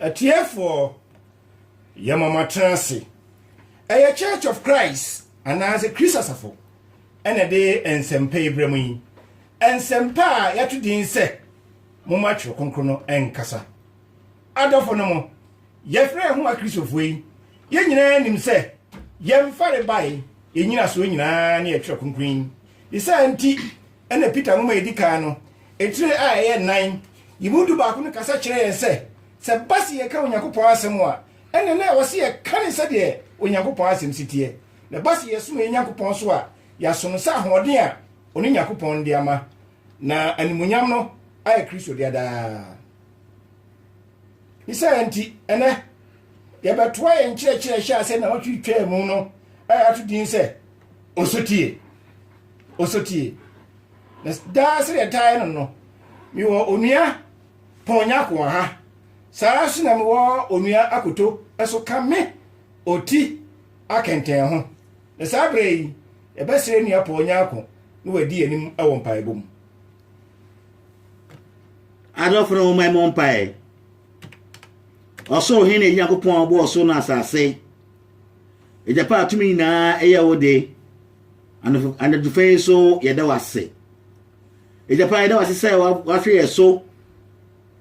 Atiefoɔ, yɛma mo atena ase. Ɛyɛ Church of Christ anaasɛ Kristo Asafo na ɛde nsɛmpa yi brɛ mo yi. Nsɛmpa a yɛato din sɛ momma Twerɛ Kronkron no nkasa. Adɔfo no mo, yɛfrɛ yɛn ho Akristofoɔ yi, yɛn nyinaa nim sɛ yɛn farebae, yɛn nyinasoɔ nyinaa ne yɛ Twerɛ Kronkron yi. Ne saa nti na Peter nwoma a ɛdi kan no, Etire a ɛyɛ nnan yi mu dubaako no kasa kyerɛ yɛn sɛ, sɛ ɛba sɛ yɛka Onyankopɔn asɛm a, ɛnneɛ na ɛwɔ sɛ yɛka no sɛdeɛ Onyankopɔn asɛm si teɛ. Na ɛba sɛ yɛsom yɛn Nyankopɔn nso a, yɛasom no sɛ ahoɔden a ɔno Nyankopɔn de ama, na animuonyam no ayɛ Kristo dea daa. Ne saa nti, ɛnnɛ, yɛbɛtoa yɛn nkyerɛkyerɛ a ɛhyɛ ase nnawɔtwe twaa mu no a yɛato din sɛ, Osotie. Osotie. na daa sɛdeɛ ɛtaa yɛ no no mewɔ onua pɔn nyako wɔ ha saa ara nso na mewɔ onua akoto nso ka me ɔti akɛntɛn ho na saa berɛ yi yɛbɛsrɛ nua pɔn nyako na wadi yɛn anim wɔ mpaebɔ mu adɔfo no wɔn mmɔ mpae ɔsoro hene yɛ nyankopɔn ɔbɔ ɔsoro na asase egyapa atumi nyinaa ɛyɛ wo de Anadwo anadwo fɛ yi so yɛda wo ase. Agya pa yɛda wo ase sɛ wahwɛ yɛn so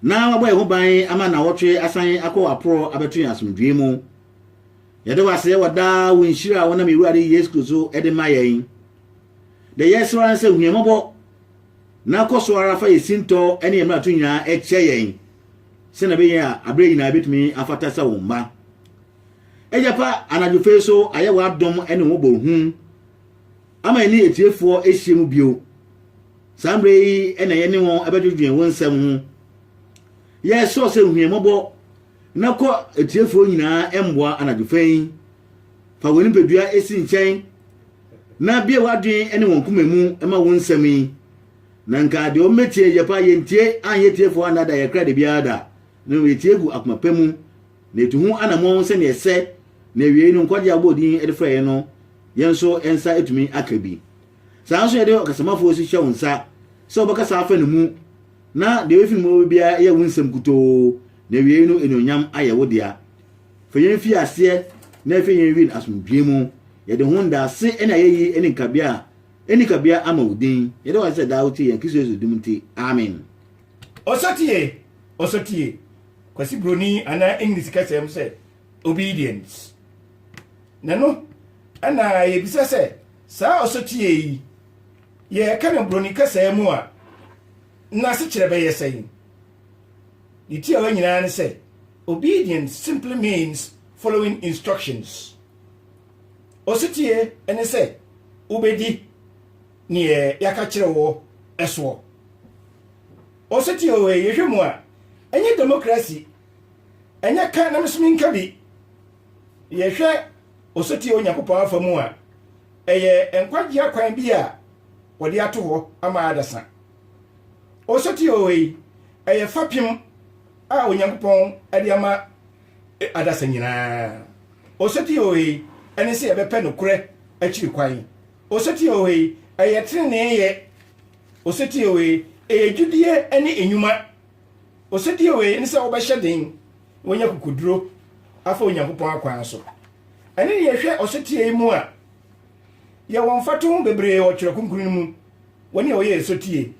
na wabɔ yɛn ho ban ama nawɔtwe asan akɔ aporɔ abɛto yɛn asomdwoe mu. Yɛda wo ase wɔ daa wo nhyira a wonam Awurade Yesu Kristo so de ma yɛn. Deɛ yɛsrɛ ara sɛ hu yɛn mmɔbɔ na kɔ so ara fa yɛn sintɔ ne yɛn mmarato nyinaa kyɛ yɛn sɛnea ɛbɛyɛ a aberɛ nyinaa yɛbɛtumi afata sɛ wo mma. Agya pa, anadwofa yi so ayɛ w'adom ne wo bɔ hu ama yɛne atiefoɔ ahyia mu bio. Saa mmerɛ yi na yɛne wɔn bɛdwedwen wo nsɛm ho. Yɛsrɛ sɛ hwie mmɔbɔ na kɔ atiefoɔ nyinaa mmoa anadwofa yi. Fa wɔn nipadua si nkyɛn na bie w'adwen ne wɔn koma mu ma wo nsɛm yi. Na nka deɛ wɔbɛtie agya pa yɛntie anyɛ tiefoɔ anada yɛkra de biara da. Na yɛtie gu akoma pɛ mu Na etu ho anammɔn sɛnea ɛsɛ, na awiei no, nkwagye a wɔbɔɔ din de frɛɛ yɛn no, yɛn nso yɛn nsa atumi aka bi. Saa ara nso na yɛde ɔkasamafo si hyɛ wo nsa sɛ wobɛkasa afa ne mu, na deɛ efi ne mu bɛba biara yɛ wo nsɛm nkutoo, na awiei no anuonyam ayɛ wo dea. Fa yɛn fi aseɛ na hwɛ yɛn wie no asomdwoeɛ mu. Yɛde ho ndaase ne ayeyi ne nkabea a ɛnni kabea ama wo din. Yɛda wo ase sɛ daa wotie yɛn, Kristo Yesu din mu nti, amen. Osetie! Osetie! Kwasi Broni anaa English kasa mu sɛ obedience. Na no ɛna yɛbisa sɛ saa ɔsotie yi yɛka no Broni kasa mu a n'asekyerɛ bɛyɛ sɛn? Ne tiawa nyinaa ne sɛ obedience simply means following instructions. Ɔsotie ne sɛ wobɛdi neɛ yɛaka kyerɛ wɔ ɛsoɔ. Ɔsotie o ee, yɛhwɛ mu a, ɛnyɛ demokrasi, ɛnyɛ ka na me nso menka bi. Yɛhwɛ ɔsotie Onyankopɔn afa mu a, ɛyɛ nkwagye akwan bi a wɔde ato hɔ ama adasa. Ɔsotie o ei, ɛyɛ fapem a Onyankopɔn de ama e, adasa nyinaa. Ɔsotie o ei, ɛne sɛ yɛbɛpɛ nokorɛ akyiri kwan. Ɔsotie o ei, ɛyɛ teneneeyɛ. Osetie wei, ɛyɛ gyidie ne nnwuma. Osetie wei ne sɛ wobɛhyɛ den, woanya kokoduro afa Onyankopɔn akwan so. Ɛne deɛ ɛhwɛ ɔsetie yi mu a, yɛwɔ mfatoho bebree wɔ Twerɛ Kronkron no mu wɔ nea ɔyɛɛ sotie.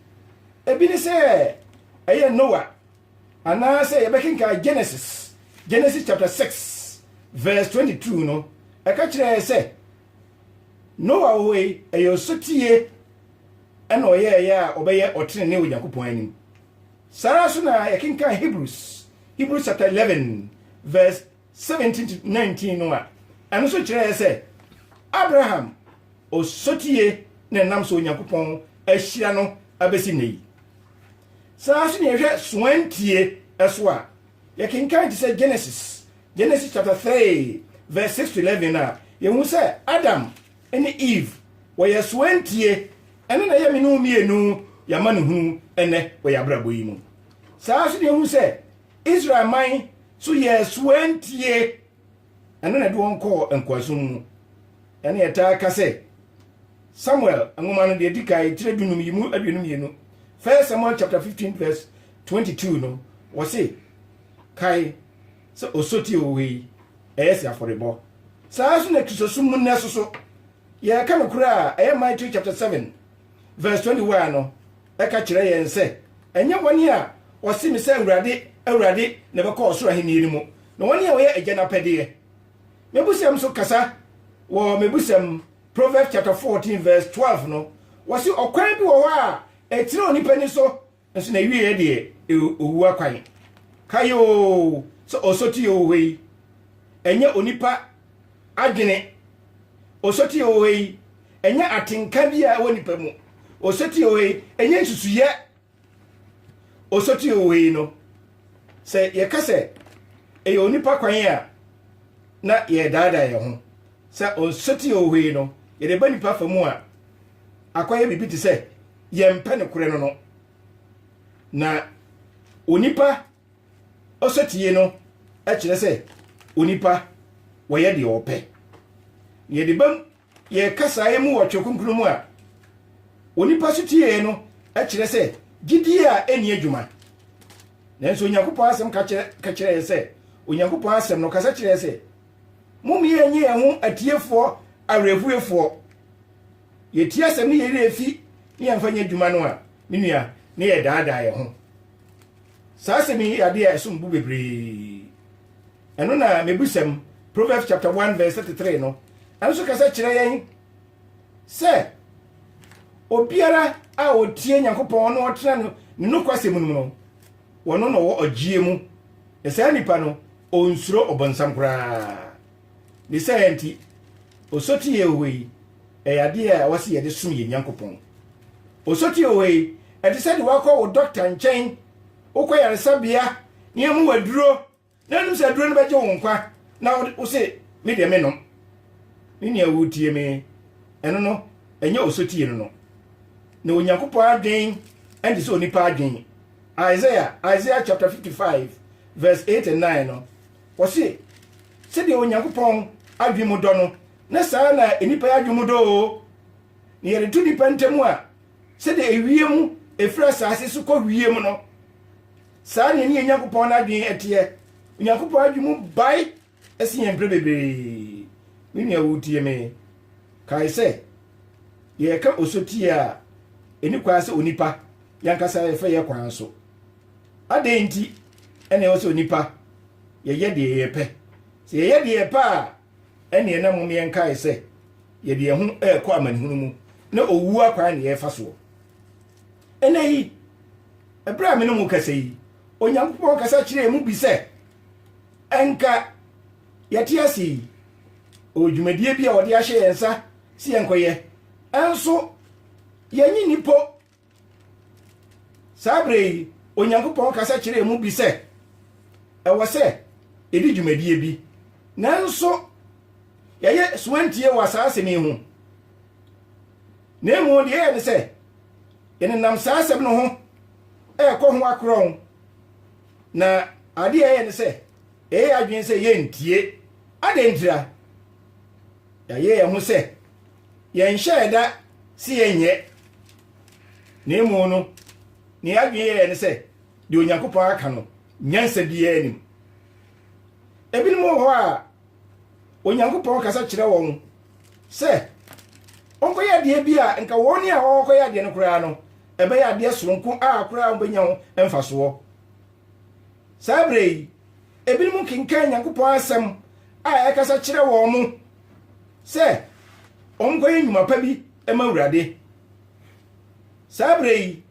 Ebi ne sɛ ɛyɛ Noa, anaa sɛ yɛbɛkenkan Genesis, Genesis chapter 6 verse 22 no, ɛka kyerɛ yɛ sɛ Noa wɔ hɔ yi, ɛyɛ osotie. ɛna ɔyɛɛ ɛyɛ a ɔbɛyɛ ɔtrenee wɔ Nyankopɔn anim. Saa ara nso na yɛkenkan Hebrews, Hebrews chapter 11 verse 17 to 19 no a, ɛno nso kyerɛ yɛ sɛ Abraham osotie na ɛnam so Onyankopɔn ahyira no abɛsi nnɛ yi. Saa ara nso na yɛhwɛ soantie ɛso a, yɛkenkan te sɛ Genesis, Genesis chapter 3 verse 6 to 11 a, yɛhu sɛ Adam ne Eve wɔyɛ soɛntie ɛno na ɛyɛ me ne wo mmienu yɛ amanehunu ɛnɛ wɔ yɛ abrabɔ yi mu saa so ne ɛhu sɛ Israel man so yɛ soɛntie ɛno na ɛde wɔn kɔɔ nkoasom mu ɛne yɛtaa ka sɛ Samuel nwoma no deɛ di kan tire dunum yi mu aduonu mmienu First Samuel chapter 15 verse 22 no wɔse kae sɛ osoti oo wei ɛyɛ sɛ afɔrebɔ. Saa ara nso na Kristosom mu nnɛ so so yɛka nokorɛ a ɛyɛ Matthew chapter 7 verse 21 no ɛka kyerɛ yɛn sɛ ɛnyɛ wɔn a wɔse me sɛ Awurade, Awurade na ɛbɛkɔ ɔsoro ahennie no mu, na wɔn a wɔyɛ agya no apɛdeɛ. Mebusɛm so kasa wɔ mebusɛm Proverbs chapter 14 verse 12 no wɔse ɔkwan bi wɔ hɔ a ɛtene onipa ni so Nso n'awieɛ deɛ ɛyɛ owuo akwan. Kae oo sɛ osotie wɔ hɔ yi, ɛnyɛ onipa adwene. Osotie wɔ hɔ yi, ɛnyɛ atenka bi a ɛwɔ nipa mu. Osotie wɔ hɔ yi, ɛnyɛ nsusuyɛ. Osotie wɔ hɔ yi no, sɛ yɛka sɛ ɛyɛ onipa kwan a, na yɛredaadaa yɛn ho. Sɛ osotie wɔ hɔ yi no, yɛde ba nipa fa mu a, akɔyɛ biribi te sɛ yɛmpɛ nokorɛ no no. Na onipa ɔsɛtie no kyerɛ sɛ onipa wɔyɛ deɛ ɔpɛ. Yɛde bam yɛka saa yi mu wɔ Twerɛ Kronkron mu a, onipa so tiee no kyerɛ sɛ gyidie a ɛnni adwuma. Nanso Onyankopɔn asɛm ka kyerɛ yɛn sɛ Onyankopɔn asɛm no kasa kyerɛ sɛ Mom yɛnyɛ yɛn ho atiefoɔ awerɛhuefoɔ. Yɛtie asɛm ne yɛn werɛ fi ne yɛmfa nyɛ adwuma no a, me nua, ne yɛdaadaa yɛn ho. Saa asɛm yi yɛ adeɛ a ɛsom bo bebree. Ɛno na mebusɛm, Proverbs chapter 1 verse 33 no nso kasa kyerɛ yɛn sɛ obiara a ɔtie Nyankopɔn na ɔtena ne nokwasɛm no mu no, wɔno na ɔwɔ ɔgyeɛ mu, na saa nipa no ɔnsuro ɔbɔnsam koraa. Ne saa nti, osotie Yehowa yi ɛyɛ adeɛ a ɛwɔ sɛ yɛde som yɛn Nyankopɔn. Osotie Yehowa yi ɛte sɛ de wakɔ wo dɔkta nkyɛn, wokɔ yaresabea na yɛmu waduro, Na nim sɛ aduro no bɛgye wo nkwa na wo se me deɛ me nom. Me nua wo tie me ɛno no ɛnyɛ osotie no no. Na Onyankopɔn adwen ɛnte sɛ onipa adwen. Isaiah, Isaiah chapter 55 verse 8 and 9 no, wɔse sɛdeɛ Onyankopɔn adwen mu dɔ no, na saa na nipa adwen mu dɔ o. Na yɛde to nipa ntamu a, sɛdeɛ ewiem efiri asase so kɔ wiem no, Saa na yɛne yɛn Nyankopɔn no adwene teɛ. Onyankopɔn adwene mu bae sen yɛn mprɛ bebree. Me nua, woretie me? Kae sɛ, yɛreka osotie a ɛni kwan sɛ onipa yɛn ankasa yɛfa yɛ kwan so. Adɛn nti na ɛwɔ sɛ onipa yɛyɛ deɛ yɛpɛ? Sɛ yɛyɛ deɛ yɛpɛ a, ɛneɛ na mmom yɛn kae sɛ yɛde yɛn ho ɛrekɔ amanehunu mu na owuo akwan na yɛrefa soɔ. Ɛnnɛ yi, bere a me ne mo kasa yi, Onyankopɔn kasa kyerɛ emu bi sɛ, ɛnka yɛte ase yi, ɔwɔ dwumadie bi a ɔde ahyɛ yɛn nsa sɛ yɛnkɔyɛ. Ɛnso, yɛnye ni po. Saa bere yi, Onyankopɔn kasa kyerɛ emu bi sɛ, ɛwɔ sɛ yɛdi dwumadie bi. Nanso, yɛyɛ soantie wɔ saa asɛm yi ho. Na mmom, deɛ yɛyɛ ne sɛ, ɛnenam saa asɛm no ho ɛrekɔ ho akorɔn na adeɛ a ɛyɛ ne sɛ ɛyɛ adwene sɛ yɛntie adɛn ntira yɛayɛ yɛn ho sɛ yɛnhyɛ ɛda sɛ yɛnyɛ na emu no ne adwene yɛyɛ ne sɛ deɛ onyankopɔn aka no nyansa biara nim ebinom wɔ hɔ a onyankopɔn kasa kyerɛ wɔn sɛ wɔnkɔyɛ adeɛ bi a nka wɔn a wɔkɔyɛ adeɛ no koraa no ɛbɛyɛ adeɛ soronko a koraa wɔbɛnya ho mfasoɔ saa berɛ yi ebinom nkenkan nyankopɔn asɛm a ɛkasa kyerɛ wɔn mo sɛ wɔnkɔyɛ nnwuma pa bi ma awurade saa berɛ yi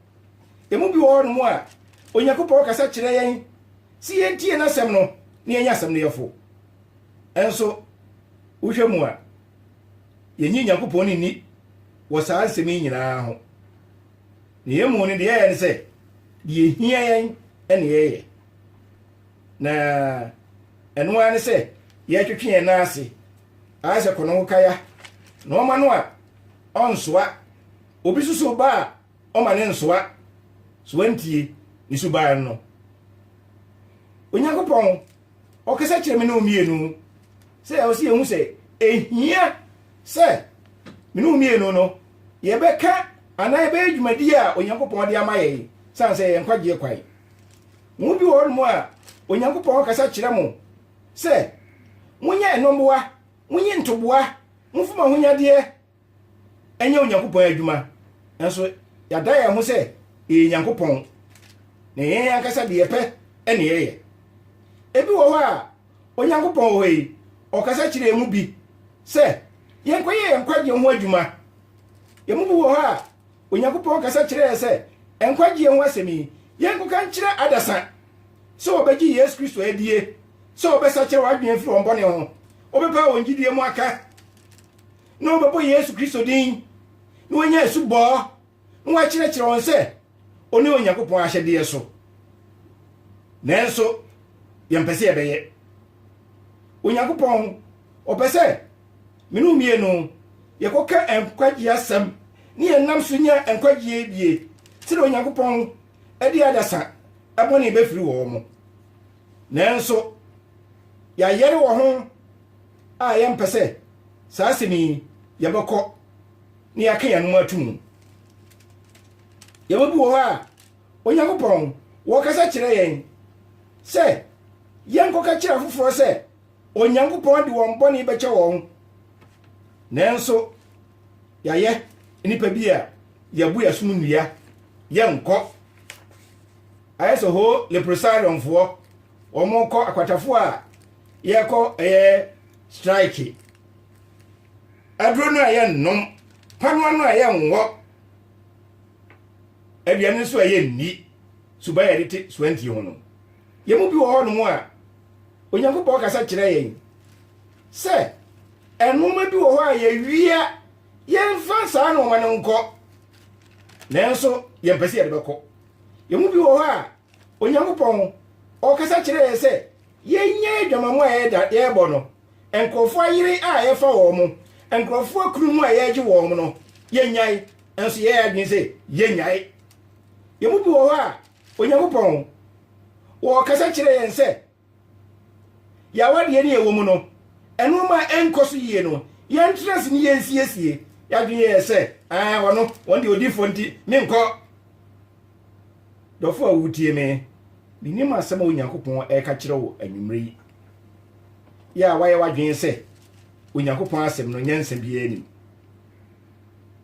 ɛmu bi wɔ hɔ no mu a onyankopɔn kasa kyerɛ yɛn si yɛntie no asɛm no na yɛnyɛ asɛm no yɛfo Nanso, wohwɛ mu a, yennye Onyankopɔn nni wɔ saa nsɛm yi nyinaa ho. Nea emu no, deɛ ɛyɛ ne sɛ, deɛ ehia yɛn na yɛyɛ. Na ɛno ara ne sɛ yɛtwetwe yɛn nan ase ara sɛ kɔnɔnkokaya na ɔma no a ɔnsoa. Obi susuw ba a Ɔma ne nsoa soa ntie ne suban no. Onyankopɔn, ɔkasa kyerɛ me ne wo mmienu sɛ ɛwɔ sɛ yɛhu sɛ ɛhia sɛ me ne wo mmienu no yɛbɛka anaa yɛbɛyɛ dwumadi a Onyankopɔn de ama yɛn sane sɛ yɛn nkwagyeɛ kwan. Mo bi wɔ hɔ nom a Onyankopɔn kasa kyerɛ mo sɛ monyɛ ɛnɔmmoa, monyi ntoboa, momfom ahonyadeɛ, nyɛ Onyankopɔn adwuma, nanso yɛada yɛn ho sɛ yɛyɛ Nyankopɔn, na yɛn ankasa de yɛpɛ ne yɛyɛ. Ebi wɔ hɔ a, Onyankopɔn wɔ hɔ yi, ɔkasa kyerɛ yɛn mu bi sɛ yɛnkɔyɛ yɛn nkwagyeɛ ho adwuma. Yɛn mu bi wɔ hɔ a, Onyankopɔn kasa kyerɛ yɛn sɛ nkwagyeɛ ho asɛm yi, yɛnkɔka nkyerɛ adasa sɛ wɔbɛgye Yesu Kristo adie, sɛ wɔbɛsakyera wɔn adwene afiri wɔn bɔne ho, wɔbɛpa wɔn gyidie mu aka. na wɔbɛbɔ Yesu Kristo din, na wɔanya asubɔ, na wɔakyerɛkyerɛ wɔn sɛ ɔne Onyankopɔn ahyɛdeɛ so. Nanso, yɛmpɛ sɛ yɛbɛyɛ. Onyankopɔn, ɔpɛ sɛ me no mmienu yɛkɔka nkwagyeɛ asɛm ne yɛnam so nya nkwagyeɛ bie sɛdeɛ Onyankopɔn de adasa bɔne bɛfiri wɔn mo. Nanso, yɛayɛre wɔ ho a yɛmpɛ sɛ saa asɛm yi yɛbɛkɔ na yɛaka yɛn anom ato mu. Yɛma bi wɔ hɔ a, Onyankopɔn wɔkasa kyerɛ yɛn sɛ yɛnkɔka kyerɛ afoforɔ sɛ Onyankopɔn de wɔn bɔne bɛkyɛ wɔn. Nanso yɛayɛ nnipa bi a yɛbo yɛ som nnua yɛnkɔ. Ayɛ sɛ hoo leprosariumfoɔ wɔn kɔ akwatafoɔ a yɛkɔ ɛyɛ strike aduro no a ɛyɛ nnom panoa no a ɛyɛ nwɔ aduane nso a ɛyɛ nni suba yɛde te suantie ho no yɛn mu bi wɔ hɔ nom a onyankopɔn kasa kyerɛ yɛn sɛ ɛnnoɔma bi wɔ hɔ a yɛwia yɛmfa saa nnoɔma no nkɔ nanso yɛmpɛ sɛ yɛde bɛkɔ yɛn mu bi wɔ hɔ a Onyankopɔn, ɔkasa kyerɛ yɛn sɛ yɛnyɛ adwamammɔ a yɛrebɔ no, nkurɔfoɔ ayere a yɛfa wɔn, nkurɔfoɔ akunu mu a yɛregye wɔn no, yɛnnyae. Nanso yɛyɛ adwene sɛ yɛnnyae. Yɛn mu bi wɔ hɔ a, Onyankopɔn, ɔrekasa kyerɛ yɛn sɛ, Yɛn awadeɛ ne ɛwɔ mu no, nnoɔma a ɛnkɔ so yie no, yɛntra ase ne yɛnsiesie. Yɛadwene yɛ sɛ, ah, wɔn no, wɔn deɛ odifoɔ nti, menkɔ. Dɔfo a wotie me, menim asɛm a Onyankopɔn ɛreka kyerɛ wo anwummerɛ yi. Yɛ a wayɛ w'adwene sɛ Onyankopɔn asɛm no nyansa biara nim.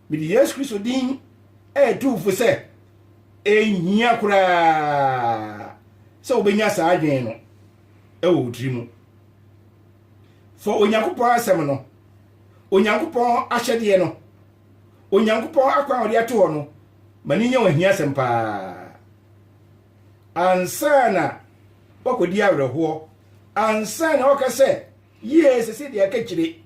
Mede Yesu Kristo din ɛretu fo sɛ Ɛnhia koraa sɛ wobɛnya saa adwene no wɔ wo tiri mu. Fa Onyankopɔn asɛm no, Onyankopɔn ahyɛdeɛ no, Onyankopɔn akwan a ɔde ato hɔ no ma no nyɛ wɔn ahiasɛm paa. Ansa na wakɔdi awerɛhoɔ, ansa na waka sɛ yie sese deɛ ɛka kyire,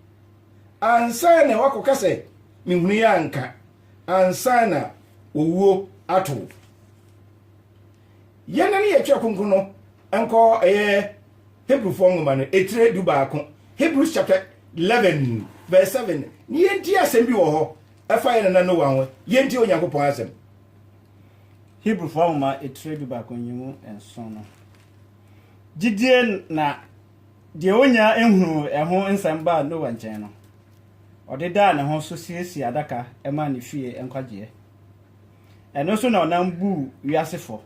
ansa na wakɔka sɛ mehunu yɛ anka. ansa na owuo ato wo. Yɛn ne yɛtwerɛ kronkron no nkɔ ɛyɛ Hebrifoɔ nwoma no etire du baako Hebrews chapter eleven verse seven ne yɛnti asɛm bi wɔ hɔ ɛfa yɛn nana Noa ho yɛnti Onyankopɔn asɛm. Hebrifoɔ nwoma etire du baako nyimu nson no gyidie na Deɛ ɔnya hunuu ɛho nsɛm baa Noa nkyɛn no, ɔde daa ne ho so siesiee adaka maa ne fie nkwagyeɛ. Ɛno so na ɔnam buu wiase fɔ,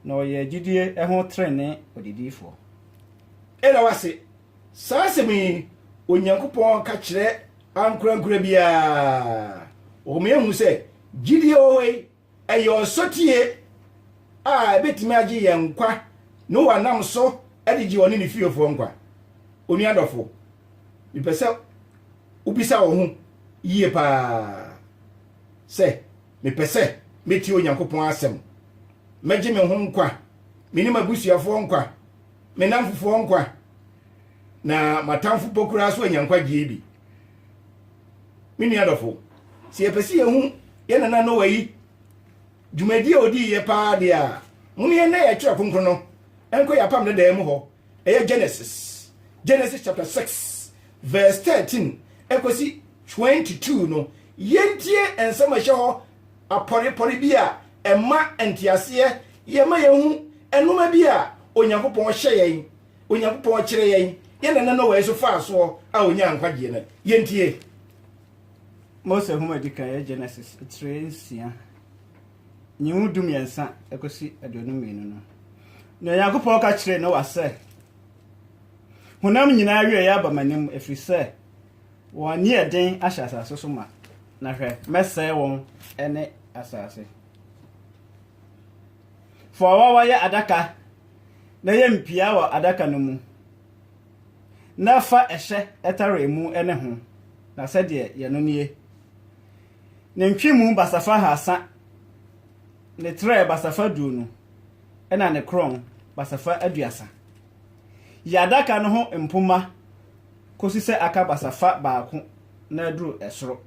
na ɔyɛɛ gyidie ho trenee ɔdedifoɔ. Ɛda w'ase, saa asɛm yi Onyankopɔn ka kyerɛ ankorankora biara. Ɔma yɛhu sɛ gyidie wɔ hɔ yi Ɛyɛ ɔsotie a ebetumi agye yɛn nkwa na wɔanam so de gye ɔne ne fiefoɔ nkwa. Onua dɔfo, mepɛ sɛ wobisa wo ho yie paa sɛ, 'Mepɛ sɛ metie Onyankopɔn asɛm? Mɛgye me ho nkwa, me ne m'abusuafoɔ nkwa, me nnamfofoɔ nkwa, na m'atamfo mpo koraa nso anya nkwagyeɛ bi? Me nua dɔfo, sɛ yɛpɛ sɛ yɛhu yɛn nana Noa yi dwumadie a ɔdii yɛ paa deɛ a, mo ne yɛn na yɛ twerɛ kronkron no nkɔ yɛ apam dadaa mu hɔ. Ɛyɛ Genesis, Genesis chapter 6 verse 13 ɛkɔsi 22 no. Yɛntie nsɛm a ɛhyɛ hɔ apɔrepɔre bi a ɛma nteaseɛ, yɛma yɛhu nnoɔma bi a Onyankopɔn hyɛ yɛn Onyankopɔn kyerɛ yɛn yɛn nana Noa nso faa soɔ a ɔnyaa nkwagyeɛ no. Yɛntie. Mose nhoma edi kan yɛ Genesis tire nsia, nyiwu du mmiɛnsa kɔsi aduonu mmienu no. Na Onyankopɔn ka kyerɛɛ Noa sɛ, Honam nyinaa awiei aba m'anim, ɛfiri sɛ wɔn ani yɛ den ahyɛ asase so ma, na hwɛ, mɛsɛe wɔn ne asase. Fa ɔwawa yɛ adaka na yɛ mpia wɔ adaka no mu, na fa ɛhyɛ tare mu ne ho, na sɛdeɛ yɛ no nie, ne ntwemu basafa haasa, ne trɛ basafa aduonu, ɛna ne korɔn basafa aduasa. Yɛ adaka no ho mpomma kɔsi sɛ aka basafa baako na aduru ɛsoro,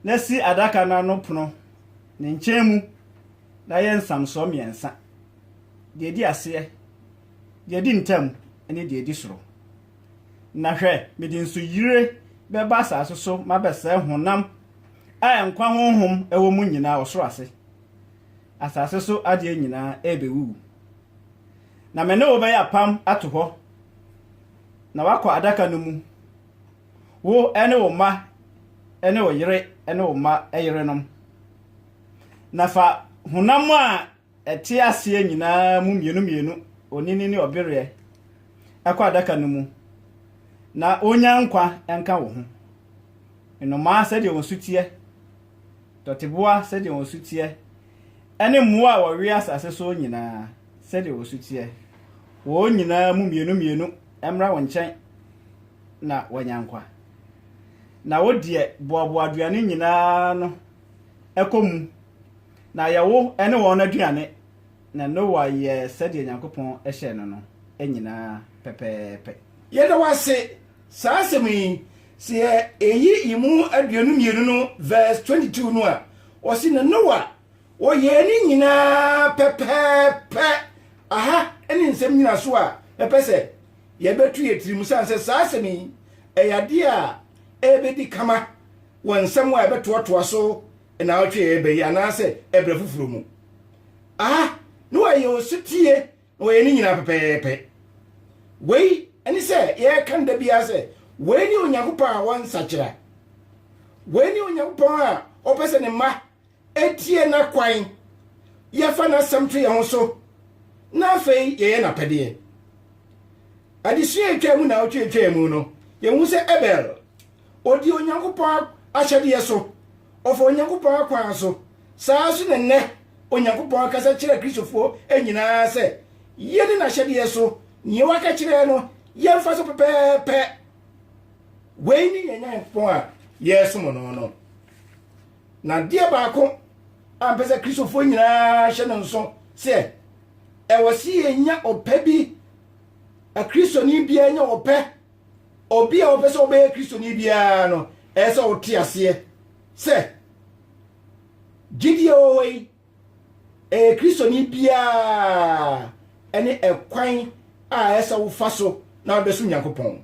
na si adaka no ano pono ne nkyɛn mu. na yɛ nsamsoɔ mmiɛnsa, deɛ ɛdi aseɛ, deɛ ɛdi ntam ne deɛ ɛdi soro. Na hwɛ, mede nsuyire bɛba asase so mabɛsɛe honam a nkwa honhom wɔ mu nyinaa ɔsoro ase. Asase so adeɛ nyinaa ɛrebɛwuwu. Na me ne wo bɛyɛ apam ato hɔ, na woakɔ adaka no mu, wo ne wo mma ne wo yere ne wo mma yerenom. Na fa honam a ɛte aseɛ nyinaa mu mmienu mmienu, onini ne ɔbereɛ, ɛkɔ adaka no mu, na ɔnya nkwa nka wo ho. Nnomaa sɛdeɛ wɔn su teɛ, dɔteboa sɛdeɛ wɔn su teɛ, ɛne mmoa a wɔwea asase so nyinaa sɛdeɛ wɔn su teɛ, wɔn nyinaa mu mmienu mmienu mmra wo nkyɛn na wɔanya nkwa. Na wo deɛ, boaboa aduane nyinaa ano kɔ mu, na yɛ wo ne wɔn aduane. Na Noa yɛɛ sɛdeɛ Nyankopɔn hyɛɛ no no nyinaa pɛpɛɛpɛ. Yɛda wo ase, saa asɛm yi, sɛ yɛ ɛyi emu aduonu mmienu no verse 22 no a, ɔse, na Noa ɔyɛɛ ne nyinaa pɛpɛɛpɛ. Aha ne nsɛm nyinasoɔ a mɛpɛ sɛ yɛbɛto yɛ tirim, sane sɛ saa asɛm yi ɛyɛ adeɛ a ɛbɛdi kama wɔ nsɛm a ɛbɛtoatoa so nnaawɔtwe a ɛreba yi anaasɛ ɛberɛ foforɔ mu. Aha na wɔyɛ ɔsotie na wɔyɛ ne nyinaa pɛpɛɛpɛ. Wei ne sɛ yɛreka no da biara sɛ wei ne Onyankopɔn a wɔnsakyera. Wei ne Onyankopɔn a ɔpɛ sɛ ne mma tie n'akwan, yɛfa n'asɛm to yɛn ho so, na afei yɛyɛ n'apɛdeɛ. Adesua a ɛtwaa mu naawɔtwe a ɛtwaa mu no, yɛhu sɛ Abel, ɔdii Onyankopɔn ahyɛdeɛ so, ɔfa Onyankopɔn akwan so. Saa nso na nnɛ Onyankopɔn akasa kyerɛ Kristofoɔ nyinaa sɛ yɛni n'ahyɛdeɛ so, nea waka kyerɛ no yɛmfa so pɛpɛɛpɛ. Wei ne yɛn Nyankopɔn a yɛresom no no. Na adeɛ baako a mpɛ sɛ Kristofoɔ nyinaa hyɛ no nso sɛ ɛwɔ sɛ yɛnya ɔpɛ bi Kristoni biara nya ɔpɛ obi a ɔpɛ sɛ ɔbɛyɛ Kristoni biara no ɛyɛ sɛ ɔte aseɛ sɛ gyidie ɔwɔ yi ɛyɛ Kristoni biara ɛne ɛkwan a ɛyɛ sɛ wofa so na wobɛsom Nyankopɔn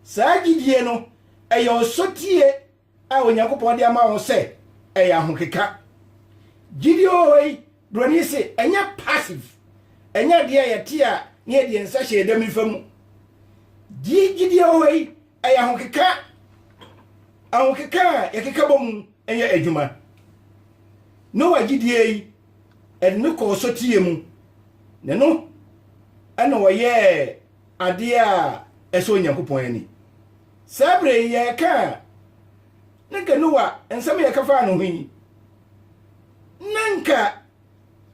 saa gyidie no ɛyɛ ɔsɔtie a Onyankopɔn de ama wɔn sɛ ɛyɛ ahokeka. Gyidi wɔ hɔ yi, Buroni se, ɛnyɛ passive, ɛnyɛ adeɛ a yɛte a na yɛde yɛn nsa hyɛ yɛn dam nifa mu. Gyidi wɔ hɔ yi, ɛyɛ ahokeka. Ahokeka a yɛkeka bɔ mu yɛ adwuma. Noa gyidie yi, ɛde no kɔɔ soteɛ mu, na no ɛna ɔyɛɛ adeɛ a ɛsɔ Onyankopɔn ani. Saa berɛ yi yɛreka a, na nka Noa nsɛm a yɛka faa ne ho yi, na nka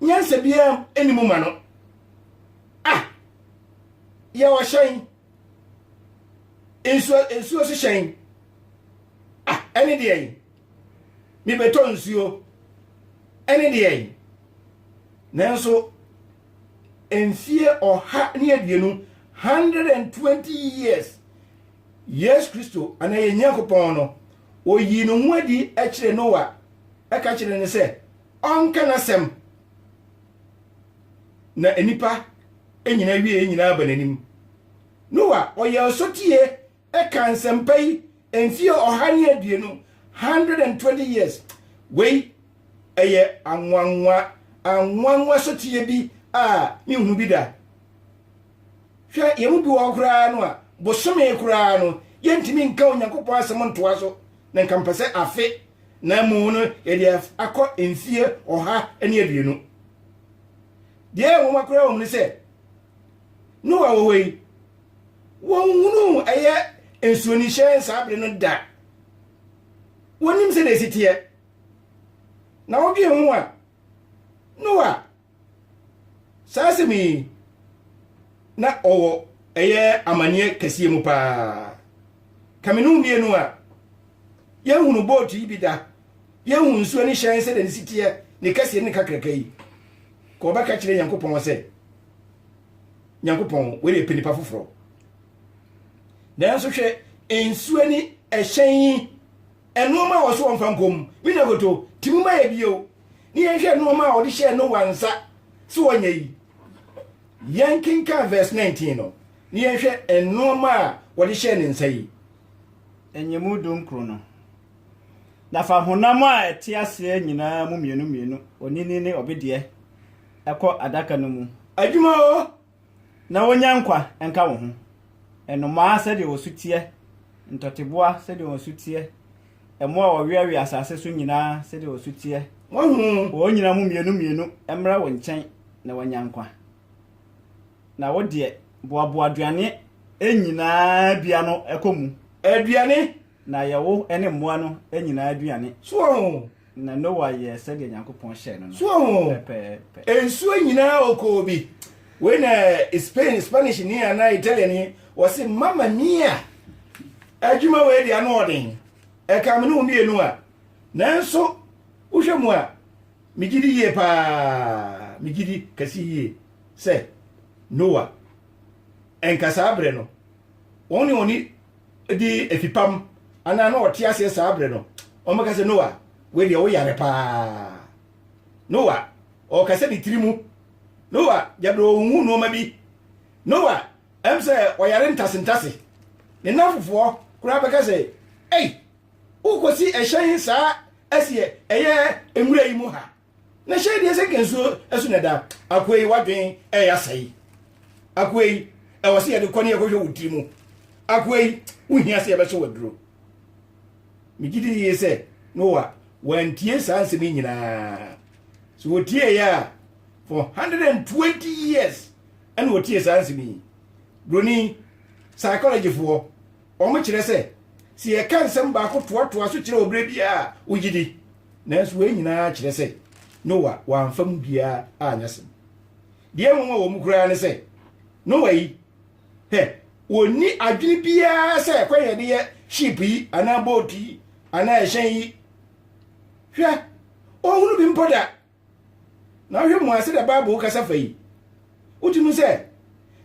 nyansa biara nni mu ma no. Ah! Yɛ ɔhyɛn, nsuo, nsuo so hyɛn. Ah! Ɛne deɛ yi, mebɛtɔ nsuo. Ɛne deɛ yi, nanso mfie ɔha ne aduonu, 120 years, Yesu Kristo anaa yɛn Nyankopɔn no, oyii ne ho adi kyerɛ Noa, ɛka kyerɛ no sɛ ɔnka n'asɛm na nnipa nyinaa wie nyinaa ba n'anim. Noa ɔyɛ ɔsotie ɛka nsɛmpa yi mfie ɔha ne aduonu, 120 years, wei ɛyɛ anwanwa anwanwa soteɛ bi a menhu bi da. Hwɛ yɛn mu bi wɔ hɔ koraa no a bosome koraa no yɛntumi nka Onyankopɔn asɛm ntoa so na nka mpɛ sɛ afe na mmom no yɛde akɔ mfie ɔha ne aduonu. Deɛ ɛyɛ nwoma koraa wɔ mu ne sɛ Noa wɔ hɔ yi, wɔnhunuu ɛyɛ nsuonihyɛn saa bere no da. Wɔnnim sɛdeɛ ɛsi teɛ. Na wodwen ho a, Noa, saa asɛm yi, na ɔwɔ ɛyɛ amanneɛ kɛseɛ mu paa. Ka me ne wo mmienu a, yɛnhunu bootu yi bi da. Yɛnhu nsuo ne hyɛn sɛdeɛ ne si teɛ, ne kɛseɛ ne ne kakraka yi. Ka ɔbɛka kyerɛ Nyankopɔn sɛ. nyankopɔn wei yɛ panipa foforɔ nanso hwɛ nsuo ni ɛhyɛn yi nnoɔma a wɔso wɔmfa nkɔm bi na goto ti mu ma yɛ bio ne yɛnhwɛ nnoɔma a wɔde hyɛɛ noa nsa so wɔnyɛ yi yɛnkenkan verse 19 no ne yɛnhwɛ nnoɔma a wɔde hyɛɛ ne nsa yi ɛnyɛ mu dunkuro no na fa honam a ɛte aseɛ nyinaa mu mmienu mmienu onini ne ɔbedeɛ ɛkɔ adaka no mu. Adwuma o, na wɔnya nkwa nka wo ho. Nnomaa sɛdeɛ wɔn su teɛ, ntɔteboa sɛdeɛ wɔn su teɛ, mmoa a wɔweawea asase so nyinaa sɛdeɛ wɔn su teɛ. Wahu? Wɔn nyinaa mu mmienu mmienu mmra wo nkyɛn na wɔanya nkwa. Na wo deɛ, boaboa aduane nyinaa bi ano kɔ mu. Aduane Na yɛ wo ne mmoa no nyinaa aduane. So wɔn o. Na Noa yɛɛ sɛdeɛ Nyankopɔn hyɛɛ no no. So wɔn o. Pɛpɛɛpɛ. Nsuo nyinaa ɔkɔɔ bi. Wei na Spain, Spanish ni anaa Italian ni, ɔse Mamma Mia! Adwuma wei deɛ ano ɔden. Ɛkame ne wo mmienu a. Nanso wohwɛ mu a, megye di yie paa, megye di kɛse yie sɛ Noa nka saa berɛ no wɔn ne wɔn di afipam anaa na ɔte aseɛ saa berɛ no ɔmɛka sɛ noa wei deɛ woyare paa noa ɔka sɛ ne tiri mu noa gyabere ɔhu nnoɔma bi noa ɛm sɛ ɔyare ntasentase ne nafofoɔ koraa bɛka sɛ ei wokɔsi ɛhyɛn saa ɛseɛ ɛyɛ nwura yi mu ha na hyɛ deɛ sɛ nsuo ɛso na ɛda akoa yi wadwen ɛyɛ asɛe akoa yi ɛwɔ sɛ yɛde kɔ ne yɛkɔhwɛ wo tiri mu akoa yi wohia sɛ yɛbɛhyɛ waduro megye di yie sɛ noa wantie saa nsɛm yi nyinaa so wɔtieeɛ a for 120 years ɛna wɔtie saa nsɛm yi buroni psychologyfoɔ Wɔkyerɛ sɛ, sɛ yɛka nsɛm baako toatoa so kyerɛ wɔ berɛ biara a, wogye di. Nanso wei nyinaa kyerɛ sɛ Noa wamfa mu biara anyɛ asɛm. Deɛ ɛnwonwa wɔ mu koraa ne sɛ, Noa yi, hwɛ, ɔnni adwene biara sɛ ɛkwan a yɛde yɛ ship yi anaa boat yi anaa ɛhyɛn yi. Hwɛ, ɔnhunu bi mpo da. Na wohwɛ mu a, sɛdeɛ Bible kasa fa yi, wotumi hu sɛ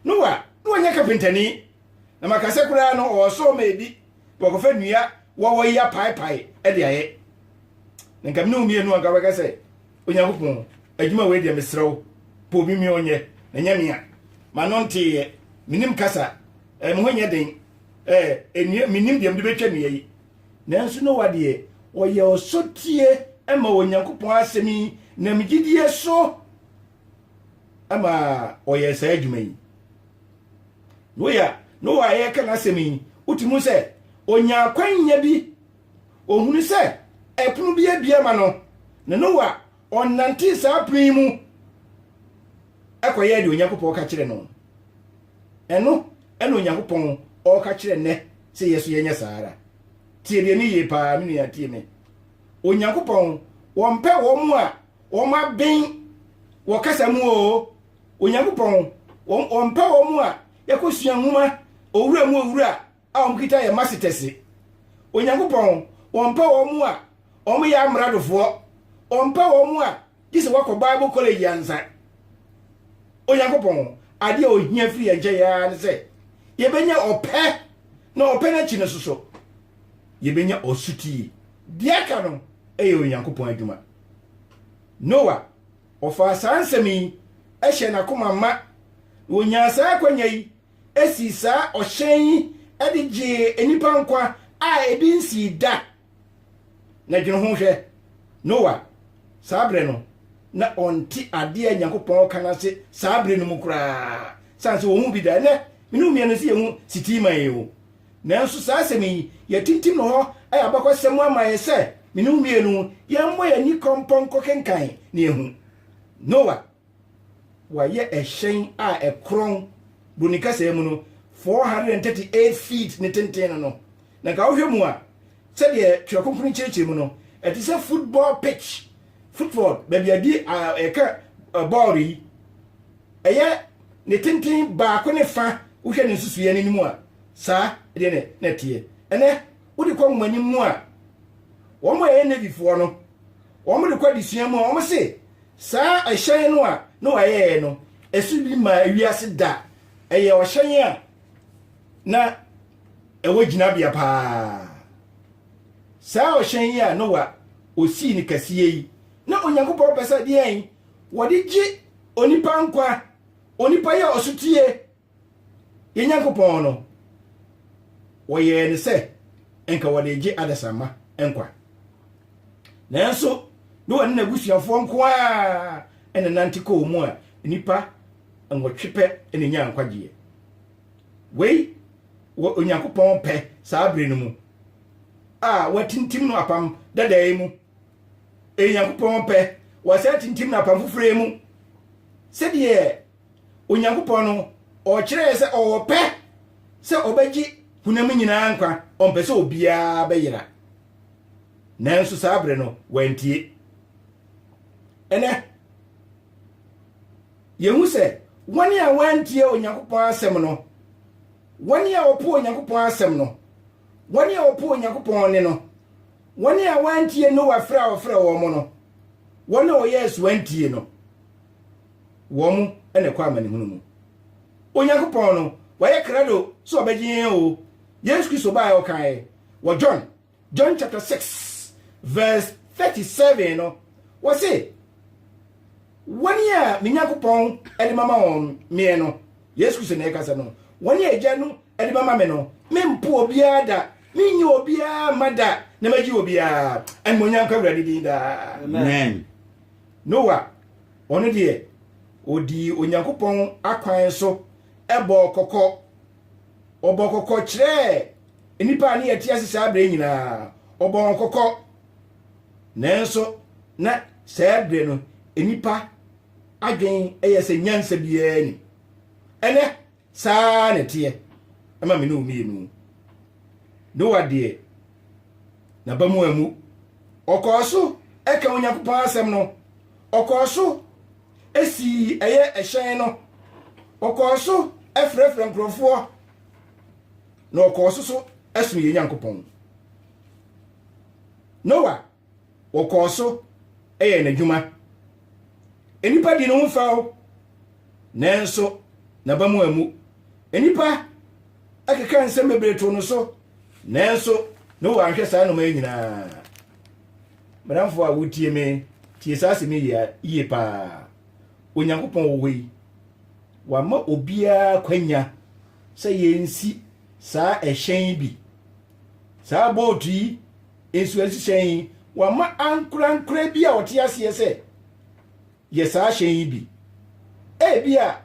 Noa na ɔnyɛ kapentani, na maka sɛ koraa no ɔwɔ sɔɔ ma ebi na wakɔfa nnua wɔwɔ yi apaepae de ayɛ. Na nka mene wo mmienu anka wobɛka sɛ, Onyankopɔn, adwuma wei deɛ mesrɛ wo, pɛ obi mi ɔnyɛ, na nyɛ me a. M'ano nteeɛ, menim kasa, eh, me ho nyɛ den, eh, nnua, menim deɛ mede bɛtwa nnua yi. Nanso Noa deɛ, ɔyɛɛ ɔsotie maa Onyankopɔn asɛm yi nam gyidie so ma ɔyɛɛ saa adwuma yi. Noa, Noa a yɛreka n'asɛm yi, wotumi hu sɛ ɔnya akwanya bi, ɔhunu sɛ ɛpono bi abia ma no, na Noa ɔnantee saa pono yi mu ɛkɔyɛɛ deɛ Onyankopɔn ka kyerɛ no. Ɛno na Onyankopɔn ɔɔka kyerɛ nnɛ sɛ yɛ so yɛnyɛ saa ara. Tie deɛ ne yie paa me nua tie me. Onyankopɔn wɔmpɛ wɔn a wɔn aben wɔ kasa mu oo. Onyankopɔn wɔmpɛ wɔn a yɛkɔsua nwoma owura mu owura a wɔkita yɛ masitɛse. Onyankopɔn, ɔmpɛ wɔn a wɔyɛ amradofoɔ, ɔmpɛ wɔn a gye sɛ wɔakɔ Bible college ansa. Onyankopɔn, adeɛ a ɔhia firi yɛn nkyɛn ara ne sɛ yɛbɛnya ɔpɛ, na ɔpɛ no akyi no nso so yɛbɛnya ɔsotie. Deɛ aka no yɛ Onyankopɔn adwuma. Noa, ɔfaa saa nsɛm yi hyɛɛ n'akoma ma, na ɔnyaa saa akwanya yi sii saa ɔhyɛn yi de gyee nnipa nkwa a ebi nsii da. Na dwene ho hwɛ, Noa, saa bere no, na ɔnte ade a Nyankopɔn reka no ase saa bere no mu koraa, sane sɛ ɔnhu bi da. Ɛnnɛ, me ne wo mmienu nso yɛhu Sitiima yi o. Nanso saa asɛm yi, yɛatintim no hɔ ayɛ abakɔsɛm mu ama yɛn sɛ me ne wo mmienu yɛmmɔ yɛn ani kɔmpɔ nkɔkenkan na yɛahu. Noa. Wɔayɛ ɛhyɛn a ɛkorɔn, Broni kasaa mu no, 438 feet ne tenten no no, na nka wohwɛ mu a, sɛdeɛ Twerɛ Kronkron kyerɛkyerɛ mu no, ɛte sɛ football pitch, football, baabi a di a ɛka bɔɔl yi, ɛyɛ ne tenten baako ne fa, wohwɛ ne nsusuiɛ no anim a, saa deɛ ne na ɛteɛ. Ɛnɛ, wode kɔ nwomanim mu a, wɔn a ɛyɛ Navyfoɔ no, wɔn de kɔ adesua mu a, wɔn se, Saa ɛhyɛn no a Noa yɛeɛ no, ɛso bi maa ewiase da. Ɛyɛ ɔhyɛn a na ɛwɔ gyinabea paa. Saa ɔhyɛn yi a Noa ɔsii no kɛseɛ yi, na Onyankopɔn pɛ sɛ deɛn? Wɔde gye onipa nkwa. Onipa yɛ ɔsotie Yɛn Nyankopɔn no, wɔyɛɛ no sɛ nka wɔde regye adasamma nkwa. Nanso Noa ne n'abusuafoɔ nko ara na nante kɔɔ mu a nnipa nwɔtwe pɛ na ɛnyaa nkwagyeɛ. Wei wɔ Onyankopɔn pɛ saa berɛ no mu a watintim no apam dada yi mu. Ɛyɛ Onyankopɔn pɛ wɔasan atintim no apam foforɔ yi mu sɛdeɛ Onyankopɔn no, ɔkyerɛɛ sɛ ɔwɔ ɔpɛ sɛ ɔbɛgye honam nyinaa nkwa, ɔmpɛ sɛ obiara bɛyera. Nanso saa bere no, wantie. Ɛnɛ, yɛhu sɛ wɔn a wɔantie Onyankopɔn asɛm no, wɔn a wɔpo Onyankopɔn asɛm no, wɔn a wɔpo Onyankopɔn ne no, wɔn a wɔantie Noa frɛ a ɔfrɛ wɔn no, wɔn a wɔyɛɛ so antie no, wɔn na ɛkɔ amanehunu mu. Onyankopɔn no, wayɛ krado sɛ ɔbɛgye yɛn o. Yesu Kristo baeɛ ɔkaeɛ wɔ John, John chapter 6 verse 37 no, wɔse, wɔn a me Nyankopɔn de mama wɔn meɛ no, Yesu Kristo na ɛkasa no, wɔn a agya no de mama me no, mempo obiara da, menyi obiara ma da, na magye obiara. Animonyam ka Awurade din daa. Amen. Noah Ɔno deɛ, ɔdii Onyankopɔn akwan so bɔɔ kɔkɔ. Ɔbɔɔ kɔkɔ kyerɛɛ nnipa a ne yɛte ase saa berɛ nyinaa. Ɔbɔɔ wɔn kɔkɔ. Nanso, na saa berɛ no, nnipa adwene yɛ sɛ nyansa biara ni. Ɛnɛ, Saa ara na ɛteɛ ma me ne wo mmienu. Noa deɛ, n'aba mu ammu. Ɔkɔɔ so ka Onyankopɔn asɛm no. Ɔkɔɔ so sii ɛyɛ ɛhyɛn no. Ɔkɔɔ so frɛfrɛ nkurɔfoɔ. Na ɔkɔɔ so so som yɛn Nyankopɔn. Noa wɔkɔɔ so yɛɛ n'adwuma. Nnipa di ne ho fɛw, nanso n'aba mu ammu. Nnipa keka nsɛm bebree too no so, nanso ne wɔ anhwɛ saa nnoɔma yi nyinaa. Madamfo a wotie me, tie saa asɛm yi yie paa. Onyankopɔn wɔ hɔ yi, wama obiara kwanya sɛ yɛnsi saa ɛhyɛn bi, saa bootu yi, nsuansuhyɛn yi, wɔama ankorankoro bi a wɔte aseɛ sɛ, Yɛ saa hyɛn yi bi. Ebia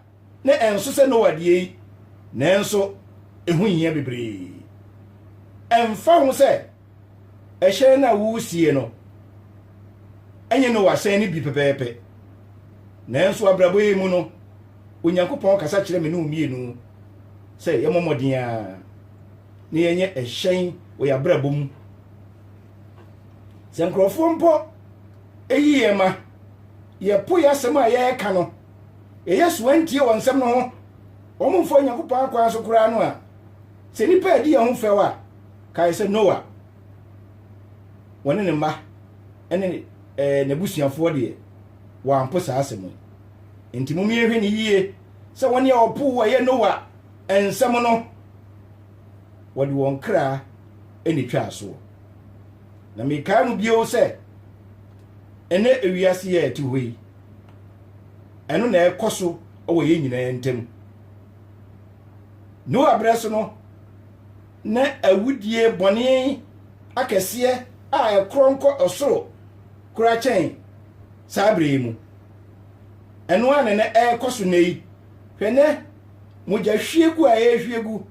na ɛnso sɛ Noa deɛ yi, nanso ɛho hia bebree. Ɛmfa ho sɛ ɛhyɛn no a woresie no ɛnyɛ Noa hyɛn no bi pɛpɛɛpɛ, nanso abrabɔ yi mu no, Onyankopɔn kasa kyerɛ me ne wo mmienu sɛ yɛmmɔ mmɔden ara. na yɛnyɛ ɛhyɛn wɔ yɛn abrabɔ mu. Sɛ nkurɔfoɔ mpo eyi yɛn ma yɛpo yɛ asɛm a yɛreka no, yɛyɛ so antie wɔn nsɛm no ho, wɔn mfa Onyankopɔn akwan so koraa no a, sɛ nnipa adi yɛn ho fɛw a, kae sɛ Noa, wɔne ne mma ne ɛɛ eh, n'abusuafoɔ deɛ, wɔampo saa asɛm yi. Enti mom yɛnhwɛ ne yie sɛ wɔn a wɔpo wɔ yɛ Noa nsɛm no, wɔde wɔn kra na etwaa soɔ. Na mekae mu bio sɛ, ɛnɛ ewiase yɛ ɛte hɔ yi, ɛno na ɛkɔ so wɔ yɛn nyinaa ntam. Noa berɛ so no, na awudie bɔne akɛseɛ a ɛkorɔ nkɔ ɔsoro kora kyɛn saa berɛ yi mu. Ɛno a na ɛkɔ so nnɛ yi, hwɛ nɛ mogyahwiegu a yɛrehwie gu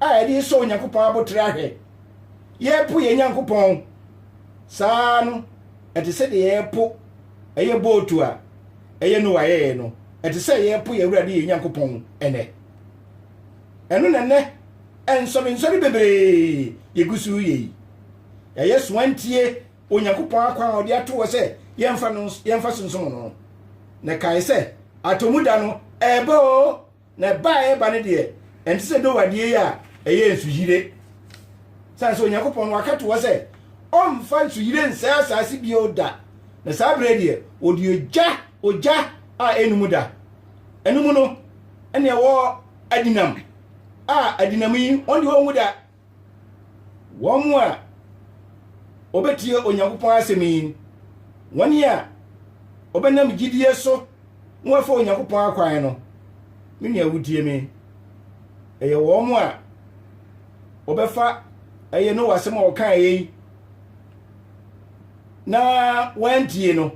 a yɛde resɔ Onyankopɔn abotere ahwɛ. Yɛrepo yɛn Nyankopɔn. Saa ara no, ɛte sɛ deɛ yɛrepo ɛyɛ bootu a ɛyɛ Noa yɛeɛ no. Ɛte sɛ yɛrepo yɛn Awurade yɛn Nyankopɔn ɛnɛ. Ɛno na nnɛ nsɔrensɔre bebree yɛgu so reyɛ yi. Yɛayɛ soantie Onyankopɔn akwan a ɔde ato hɔ sɛ yɛmfa no yɛmfa so nsom no no. Na kae sɛ, atɔmu da no, ɛreba oo, na ɛba a ɛreba no deɛ, ɛnte sɛ Noa deɛ yi a ɛyɛ nsuyire. Sane sɛ Onyankopɔn no waka to hɔ sɛ ɔmfa nsuyire nsɛe asase bio da, na saa berɛ deɛ ɔde ogya ogya a ɛnum da. Ɛno mu no, ɛne ɛwɔ adinam a adinam yi wɔn deɛ wɔnwu da. Wɔn a wɔbɛtie Onyankopɔn asɛm yi, wɔn a wɔbɛnam gyidie so na wɔafa Onyankopɔn akwan no, me nua wotie me, ɛyɛ wɔn a wɔbɛfa ɛyɛ no wɔ asɛm a wɔkaeɛ yi na wɔantie no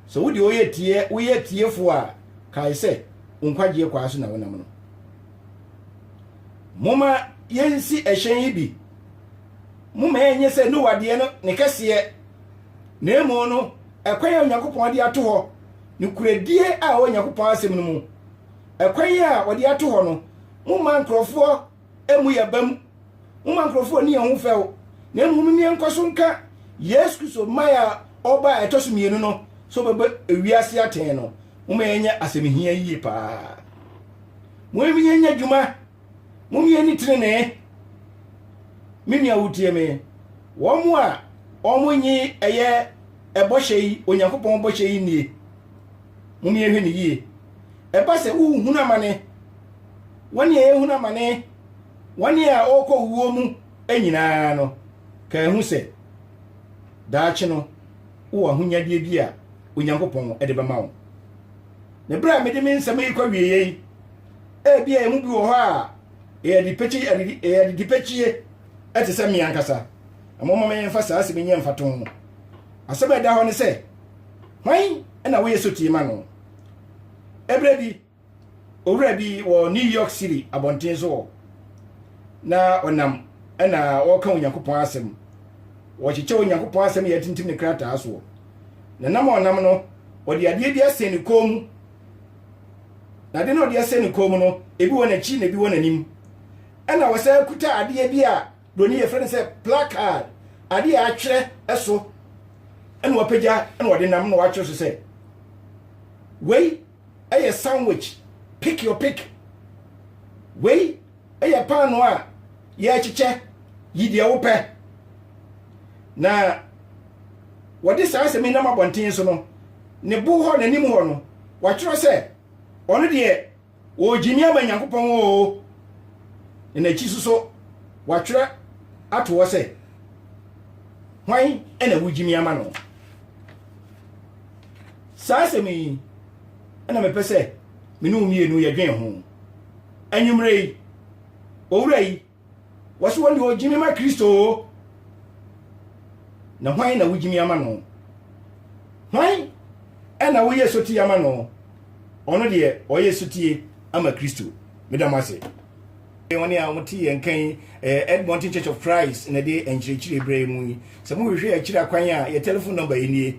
sɛ wode ɔyɛ tie woyɛ tiefoɔ a kae sɛ wo nkwagyeɛ kwaa so na wonam no Momma yɛnsi hyɛn yi bi. Momma ɛnyɛ sɛ Noa deɛ no ne kɛseɛ, na mmom no ɛkwan a Onyankopɔn de ato hɔ, nokorɛdie a ɛwɔ Onyankopɔn asɛm no mu. Ɛkwan a wɔde ato hɔ no, momma nkurɔfoɔ mmu yɛn abam, momma nkurɔfoɔ nni yɛn ho fɛw, na mmom mom yɛn nkɔ so nka Yesu Kristo mmaeɛ a ɔba a ɛtɔ so mmienu no sɛ ɔbɛbɔ ewiase atɛn no. Momma yɛnyɛ asɛmhia yie paa. Mom yɛ nya dwuma. Mom yɛ ni trenee. Me nua wotie me. Wɔn a wɔn nyi ɛyɛ ɛbɔhyɛ yi, Onyankopɔn bɔhyɛ yi nie. Mom yɛ hwɛ ne yie. Ɛba sɛ wohunu amane. Wɔn a yɛhunu amane, wɔn a wɔkɔ wuo mu nyinaa no, ka ehu sɛ daakye no wowɔ ahonyadeɛ bi a Onyankopɔn de bɛma wo. Ne berɛ a mede me nsɛm yi kɔ wieɛ yi, ebia yɛn mu bi wɔ hɔ a ɛyɛ adidipɛkyie ɛte sɛ me ankasa. Ɛmoma me mfa saa asɛm nyɛ mfato ho. Asɛm a ɛda hɔ ne sɛ, hwan na woyɛ sotie ma no? Ɛberɛ bi, owura bi wɔ New York City abɔnten so hɔ na ɔnam ɛna ɔreka Onyankopɔn asɛm. Wɔkyekyɛ Onyankopɔn asɛm yɛ atintim ne krataa soɔ. Na nam a ɔnam no, ɔde adeɛ bi asɛn ne kɔn mu. Na adeɛ no a ɔde asɛn ne kɔn mu no, ebi wɔ n'akyi na ebi wɔ n'anim. Ɛna ɔsan kuta adeɛ bi a buroni yɛfrɛ no sɛ placard, adeɛ a atwerɛ so. Ɛna wapagya ɛna ɔde nam na watwerɛ so sɛ, wei ɛyɛ sandwich pick your pick wei ɛyɛ paano a yɛrekyekyɛ yi deɛ wopɛ na wɔde saa asɛm yi nam abɔnten so no ne bo hɔ n'anim hɔ no wɔatwerɛ sɛ ɔno deɛ wɔgyimi ama nyankopɔn oo na n'akyi so so wɔatwerɛ ato hɔ sɛ hwan ɛna wogyimi ama no Saa asɛm yi na mepɛ sɛ me ne wo mmienu yɛdwen ho. Anwummerɛ yi, owura yi, wɔse wɔn deɛ ɔgyimi ma Kristo o. Na hwan na wogyimi ama no? Hwan na woyɛ sotie ama no? Ɔno deɛ ɔyɛ sotie ama Kristo. Meda mo ase. Wɔn a wɔte yɛn nka yi, eh, Edmonton Church of Christ na ɛde nkyerɛkyerɛ berɛ mu yi. Sɛ mohwehwɛ akyiri akwan a, yɛ telephone number yi nie.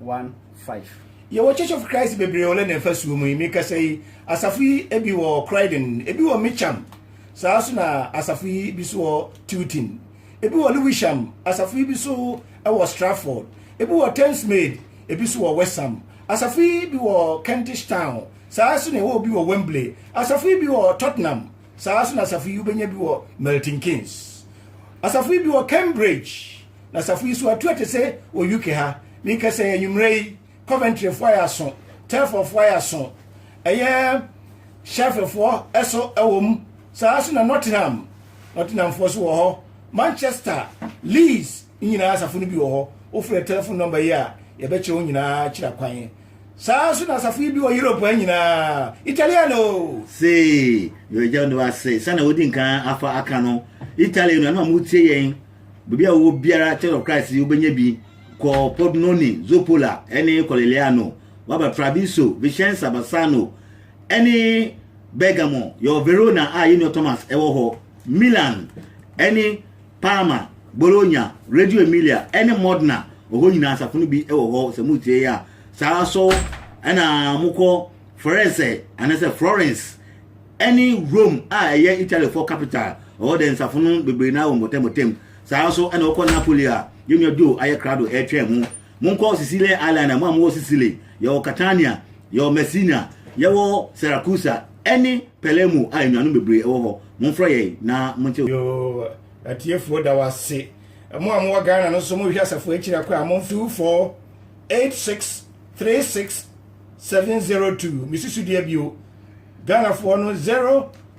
1 5. Yɛwɔ Church of Christ bebree wɔ London fasuo mu yi. Mekasa yi, asafo yi ebi wɔ Croydon, ebi wɔ Mitcham, saa nso na asafo yi bi so wɔ Tilton, ebi wɔ Lewisham, asafo yi bi so wɔ Stratford, ebi wɔ Thamesmead, ebi so wɔ Westham, asafo yi bi wɔ Kentish Town, saa nso na ɛwɔ obi wɔ Wembley, asafo yi bi wɔ Tottenham, saa nso na asafo yi wobɛnya bi wɔ Milton Keynes, asafo yi bi wɔ Cambridge. na asafo yi so atu ate sɛ wɔ uk ha menkɛ sɛ anwummerɛ yi coventryfoɔ ayɛ aso telfordfoɔ ayɛ aso ɛyɛ sheffieldfoɔ ɛso ɛwɔ mu saa so na nottingham nottinghamfoɔ so wɔ hɔ manchester leeds nyinaa asafo no bi wɔ hɔ wofrɛ telephone number yi a yɛbɛkyerɛ wo nyinaa kyerɛ kwan saa so na asafo yi bi wɔ europe nyinaa italiano sei mewagya no ase sɛna wodi nkan afa aka no italiano ɛna ɔmo tie yɛn baabi a wowɔ biara Church of Christ wobɛnya bi kɔ Podnoni, Zopola ɛne Kɔleleano waba Traviso, Vicenza, Bassano ɛne Bergamo yɛwɔ Verona a yɛnua Thomas ɛwɔ hɔ Milan ɛne Parma, Bologna, Radio Emilia ɛne Modena ɔhɔ nyinaa asafo no bi ɛwɔ hɔ sɛ motie yɛ a saa so ɛna mokɔ Forese anasɛ Florence ɛne Rome a ɛyɛ Italyfoɔ capital, ɛwɔ dɛ nsafo no bebree naa wɔ mpɔtam-pɔtam, saa ara nso ɛna wɔkɔ Napoli a yɛnua Joe ayɛ krado ɛretwɛn ho. Monkɔ Sicilian Island a mo a mowɔ Sicily, yɛwɔ Catania, yɛwɔ Messina, yɛwɔ Siracusa ɛne Palermo a anuanom bebree ɛwɔ hɔ, momfrɛ yɛn na monte. Yoo atiefoɔ da wase. Mo a mowɔ Ghana no nso mohwɛ asafo akyiri akɔ a momfe u 4 86 36 702 me susudeɛ bio Ghanafoɔ no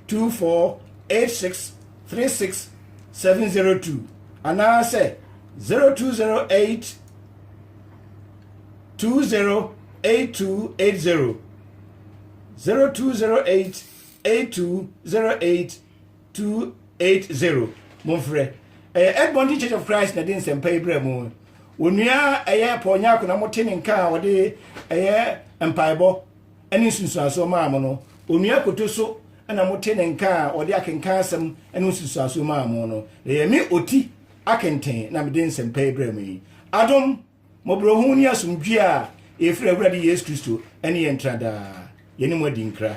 0248636702 anaasɛ 0208208280, 0208820880, momfrɛ. Ɛyɛ Edmonton Church of Christ na ɛde nsɛmpa yi brɛ mo. Onua ɛyɛ Paul Nyarko na mote ne nka a ɔde ɛyɛ mpaebɔ. ne nsunsuansoɔ maa mo no, onua koto so na mote ne nka a ɔde akenkan asɛm ne nsunsuansoɔ maa mo no, na yɛ me ɔti akenten na mede nsɛmpa yi brɛ mo yi. Adom, mmɔborɔhunu ne asomdwie a ɛfiri Awurade Yesu Kristo ne yɛn ntra daa. Yɛne mo adi nkra.